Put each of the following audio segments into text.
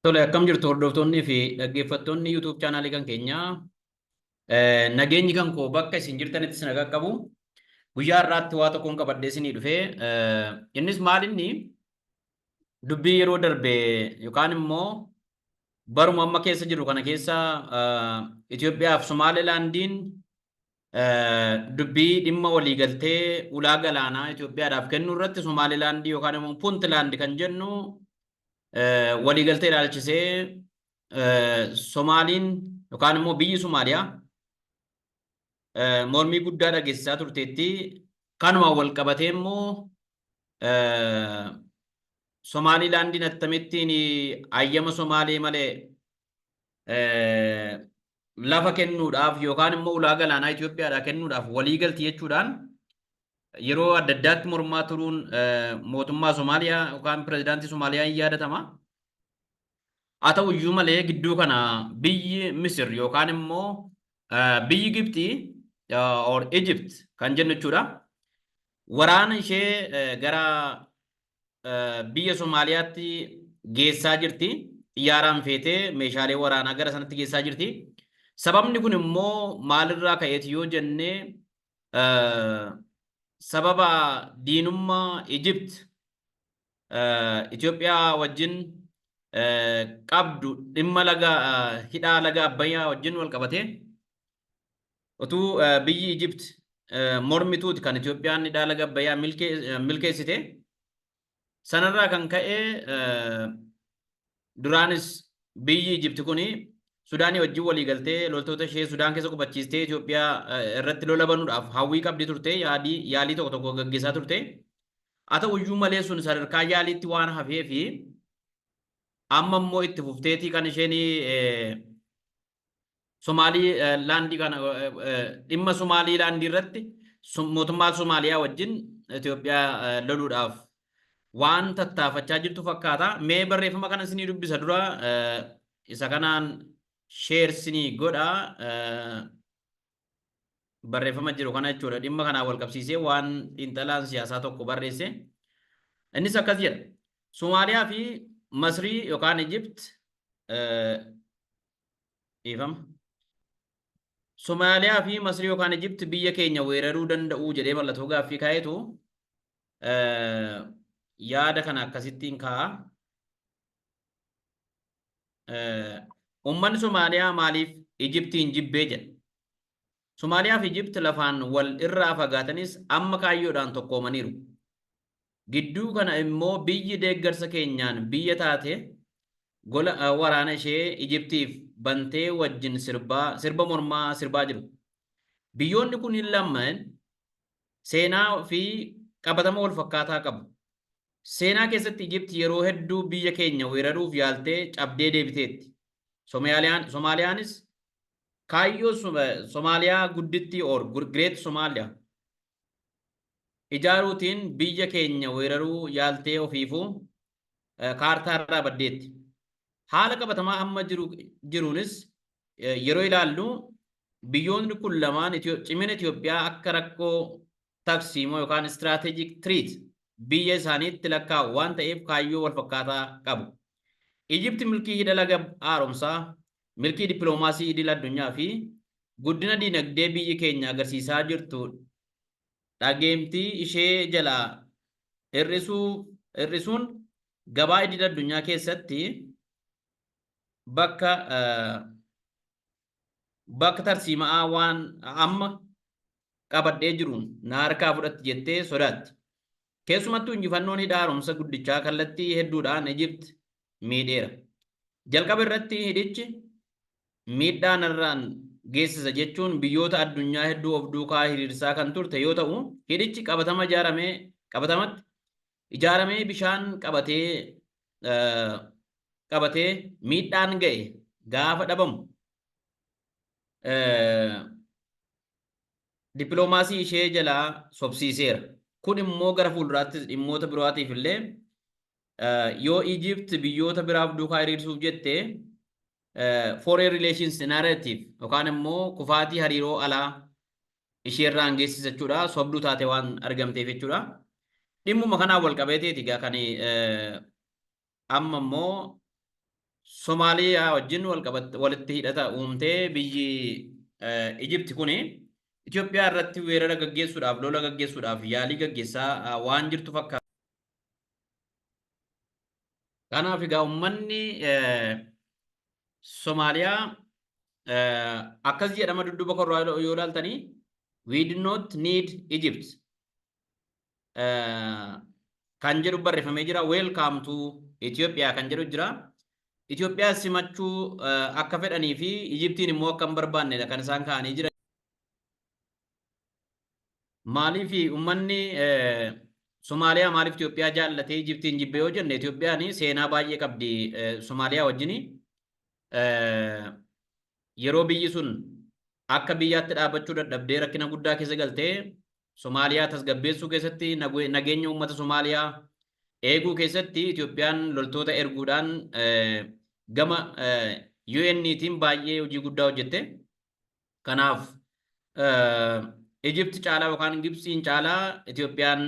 Tole akkam jirtu hordoftoonnii fi dhaggeeffattoonni YouTube chaanaalii kan keenyaa nageenyi kan koo bakka isin jirtanitti isin qaqqabu guyyaa irraatti waa tokkoon qabadhee isinii dhufee innis maal inni dubbii yeroo darbe yookaan immoo baruma amma keessa jiru kana keessa Itoophiyaa fi Somaalilaandiin dubbii dhimma waliigaltee ulaa galaanaa Itoophiyaadhaaf kennuu irratti Somaalilaandii yookaan immoo Puntlaand kan jennu waliigaltee ilaalchisee Somaaliin yookaan immoo biyyi Somaaliyaa mormii guddaa dhageessisaa turteetti. Kanumaan wal qabatee immoo Somaaliilaandiin attamittiin hayyama Somaalee malee lafa kennuudhaaf yookaan immoo ulaa galaanaa Itoophiyaadhaa kennuudhaaf walii galti jechuudhaan yeroo adda addaatti mormaa turuun mootummaa Somaaliyaa yookaan pirezidaantii Somaaliyaa hin yaadatama. Haa ta'u iyyuu malee gidduu kana biyyi Misir yookaan immoo biyyi Gibxii or Egypt kan jennu jechuudha. Waraana ishee gara biyya Somaaliyaatti geessaa jirti. Xiyyaaraan feetee meeshaalee waraanaa gara sanatti geessaa jirti. Sababni kun immoo maalirraa ka'eeti yoo jenne sababa diinummaa Egypt Itoophiyaa wajjin qabdu dhimma laga hidhaa laga Abbayyaa wajjin wal qabatee utuu biyyi Ijipt mormituuti kan Itoophiyaan hidhaa laga Abbayyaa milkeessite. Sanarraa kan ka'e Duraanis biyyi Ijipti kuni Sudaanii wajjin walii galtee loltoota ishee Sudaan keessa qubachiistee Itoophiyaa irratti lola banuudhaaf hawwii qabdi turte yaadii yaalii tokko tokko gaggeessaa turte. Haa ta'uyyuu malee sun sadarkaa yaaliitti waan hafee fi amma immoo itti fufteetii kan isheen Somaalii laandii kana dhimma Somaalii laandii irratti mootummaa Somaaliyaa wajjin Itoophiyaa loluudhaaf waan tattaafachaa jirtu fakkaata. Mee barreeffama kana isinii dubbisa dura isa kanaan sheer isinii godha. barreeffama jiru kana jechuudha. Dhimma kanaan wal qabsiisee waan xiinxalaan siyaasaa tokko barreesse. Innis akkas jedha. Somaaliyaa fi Masrii yookaan Ijipt dhiifama. Somaaliyaa fi Masrii yookaan Ijipt biyya keenya weeraruu danda'uu jedhee mallattoo gaaffii kaa'etu yaada kana akkasittiin kaa'a. Uummanni Somaaliyaa maaliif Ijiptiin jibbee jedha? Somaaliyaa fi Ijipt lafaan wal irraa fagaatanis amma kaayyoodhaan tokkoomaniiru. Gidduu kana immoo biyyi deeggarsa keenyaan biyya taate gola waraana ishee Ijiptiif bantee wajjin sirbaa sirba mormaa sirbaa jiru. Biyyoonni kun lamaan seenaa fi qabatama wal fakkaataa qabu. Seenaa keessatti Ijipti yeroo hedduu biyya keenya weeraruuf yaaltee cabdee deebiteetti. Someyaaliyaan, Somaaliyaanis kaayyoo Som- eh, Somaaliyaa guddittii or Gr- Great Somalia ijaaruutiin biyya keenya weeraruu yaaltee ofiifuu eh, kaartaa irraa baddeetti. Haala qabatamaa amma jiru jiruunis eh, yeroo ilaallu biyyoonni kun lamaan Itiyoo- cimina Itoophiyaa akka rakkoo tarsiimoo yookaan strategic treat biyya isaaniitti lakkaa'u waan ta'eef kaayyoo walfakkaataa qabu. Ijipti milkii hidha laga haaromsaa, milkii dippiloomaasii idil addunyaa fi guddina dinagdee biyyi keenya agarsiisaa jirtu dhageemtii ishee jalaa hir'isuun gabaa idil addunyaa keessatti bakka bakka tarsiima'aa waan amma qabadhee jiruun na harkaa fudhatti jettee sodaatti. Keessumattuu injifannoon hidha haaromsa guddichaa kallattii hedduudhaan Ijipt miidheera. Jalqaba irratti hidhichi miidhaa narraan geessisa jechuun biyyoota addunyaa hedduu of duukaa hiriirsaa kan turte yoo ta'u, hidhichi qabatama ijaaramee qabatamatti ijaaramee bishaan qabatee qabatee miidhaan ga'e gaafa dhabamu dippiloomaasii ishee jalaa sobsiiseera. Kun immoo gara fuulduraattis dhimmoota birootiif illee yoo Ijipt biyyoota biraaf duukaa hiriirsuuf jette foreign relations narrative yookaan immoo kufaatii hariiroo alaa ishee irraan geessisa jechuudha. Sobduu taate waan argamteef jechuudha. Dhimmuma kanaan wal qabeeteeti egaa kan amma immoo Somaaliyaa wajjin walitti hidhata uumtee biyyi Ijipti kuni Itoophiyaa irratti weerara gaggeessuudhaaf lola gaggeessuudhaaf yaalii gaggeessaa waan jirtu fakkaata. Kanaaf egaa ummanni Somaaliyaa akkas jedhama dudduba korraa yoo ilaaltanii we do not need Egypt kan jedhu barreeffamee jira welcome to Ethiopia kan jedhu jira. Itoophiyaa simachuu akka fedhanii fi Ijiptiin immoo akka hin barbaannedha kan isaan kaa'anii jiran. Maaliif ummanni Somaaliyaa maaliif Itoophiyaa jaallatee Ijiptiin jibbee yoo jenne Itoophiyaan seenaa baay'ee qabdi Somaaliyaa wajjin yeroo biyyi sun akka biyyaatti dhaabachuu dadhabdee rakkina guddaa keessa galtee Somaaliyaa tasgabbeessuu keessatti nageenya uummata Somaaliyaa eeguu keessatti Itoophiyaan loltoota erguudhaan gama UN'tiin baay'ee hojii guddaa hojjette. Kanaaf Ijipti caalaa yookaan Gibtsiin caalaa Itoophiyaan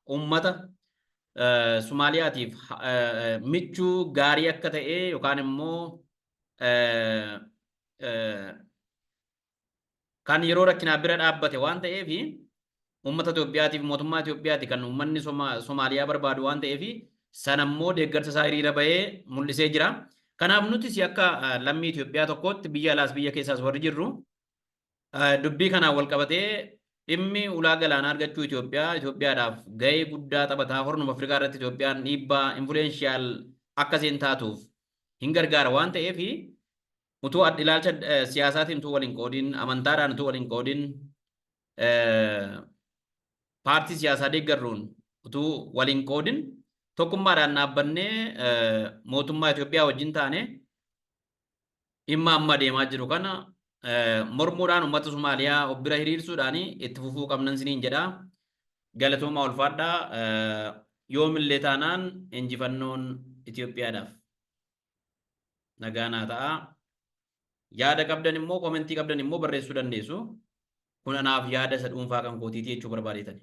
uummata Somaaliyaatiif michuu gaarii akka ta'e yookaan immoo kan yeroo rakkinaa bira dhaabbate waan ta'eef Uummata Itoophiyaati fi mootummaa Itoophiyaati kan uummanni Somaaliyaa barbaadu waan ta'eef sana immoo deeggarsa isaa hiriira bahee mul'isee jira. Kanaaf nutis akka lammii Itoophiyaa tokkootti biyya alaas biyya keessaas warri jirru dubbii kanaan wal qabatee dhimmi ulaa galaanaa argachuu Itoophiyaa Itoophiyaadhaaf gahee guddaa taphataa hornuma Afrikaa irratti Itoophiyaan dhiibbaa influenshiyaal akka isheen taatuuf hin gargaara waan ta'eef utuu ilaalcha siyaasaatiin utuu wal hin qoodin amantaadhaan utuu wal hin qoodin paartii siyaasaa deeggarruun utuu waliin qoodin tokkummaadhaan dhaabbannee mootummaa Itoophiyaa wajjin taane dhimma amma deemaa jiru kana mormuudhaan uummata Somaaliyaa of bira hiriirsuudhaan itti fufuu qabnan siniin jedha. Galatoomaa ulfaadhaa yoomillee taanaan injifannoon Itoophiyaadhaaf nagaa naa ta'a. Yaada qabdan immoo komentii qabdan immoo barreessuu dandeessu. Kun anaaf yaada isa dhuunfaa kan kootiiti jechuu barbaadeetani.